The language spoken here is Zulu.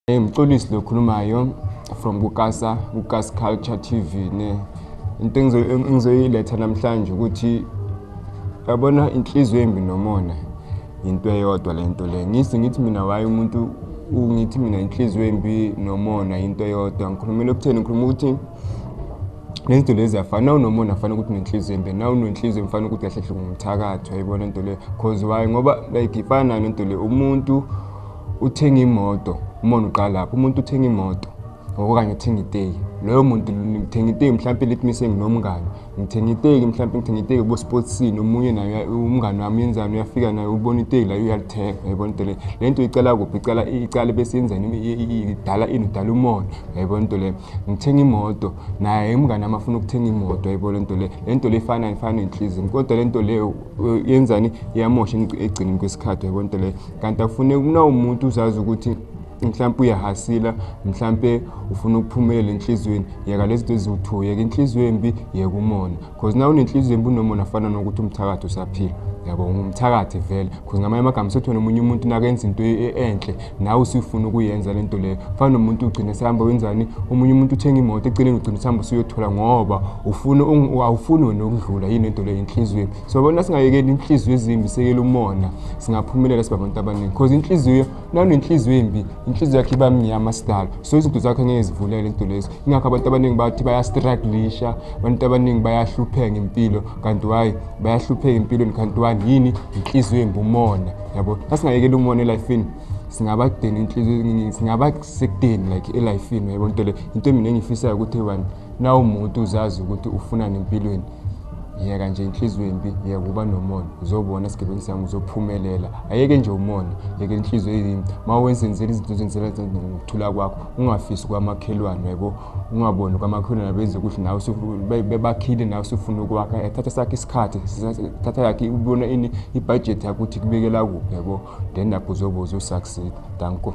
Hey mxolisi lokhulumayo from kukasa kukas culture tv ne into engizoyiletha namhlanje ukuthi yabona inhliziyo embi nomona into eyodwa le nto le ngisi ngithi mina waye umuntu ungithi mina inhliziyo embi nomona into eyodwa ngikhulumela okutheni ngikhuluma ukuthi nezinto lezi afana nawunomona afana ukuthi nenhliziyo embe nawunenhliziyo mfana ukuthi kahle hle ngumthakathwa yibona into le cause why ngoba like ifana nayo nento le umuntu uthenga imoto umona uqalapho umuntu uthenga imoto okanye uthenga iteki loyo muntu ngithenga iteki mhlawumpe lithi mise nginomngane ngithenga iteki mhlawumpe ngithenga iteki bosportsini omunye naye umngane wami yenzani uyafika naye ubona iteki layo uyalithenga yayibona into le le nto icala kuphi icala icala bese yenzani idala ini udala umona yayibona into leyo ngithenga imoto naye umngane wami afuna ukuthenga imoto yebo le nto le le nto le ifana ifana nenhlizini kodwa le nto leyo eh, yenzani iyamosha ekugcineni kwesikhathi yebo nto leyo kanti akufuneki mna umuntu uzazi ukuthi mhlawumpe uyahasila mhlawumpe ufuna ukuphumelela enhliziyweni yeka lezi zinto eziwu-two yeka inhliziyo embi yeka umona cause nawe unenhliziyo embi unomona fana nokuthi umthakathi usaphila yabo ngumthakathi vele cause ngamanye amagama sethona omunye umuntu nakenza into e-, e-, enhle nawe usifuna ukuyenza le nto leyo fana nomuntu ugcine sehamba wenzani omunye umuntu uthenga imoto eceleni ugcine usihamba usuyothola ngoba ufuna awufuni wena ukudlula yini into leyo inhliziyo so bona singayekeli inhliziyo ezimbi sekele umona singaphumelela sibabantu abaningi cause inhliziyo nanenhliziyo embi inhliziyo yakhe iba mnyama sidalo so izinto zakhe ngeke zivulele into lezo ingakho abantu abaningi bathi bayastruglisha abantu abaningi bayahlupheka ngempilo kanti wayi bayahlupheka empilweni kanti wani yini inhliziyo embi umona yabo asingayekela umona elifini singaba kudeni inhliziyo singaba sekudeni like elifini yabo into le into mina engiyifisayo ukuthi one na umuntu uzazi ukuthi ufunani empilweni yeka nje inhliziyo embi yeka uba nomona uzobona isigebengu sami uzophumelela ayeke nje umona yeke inhliziyo eyimbi uma wenzenzela izinto ozenzela ngokuthula kwakho ungafisi kwamakhelwane yebo ungaboni kwamakhelwane benze ukuthi nawe bebakhile nawe usufuna ukwakha ethatha sakhe isikhathi thatha yakhe ubona ini ibhajethi yakho ukuthi kubekela kuphi yebo then lapho uzobe uzosucceed danko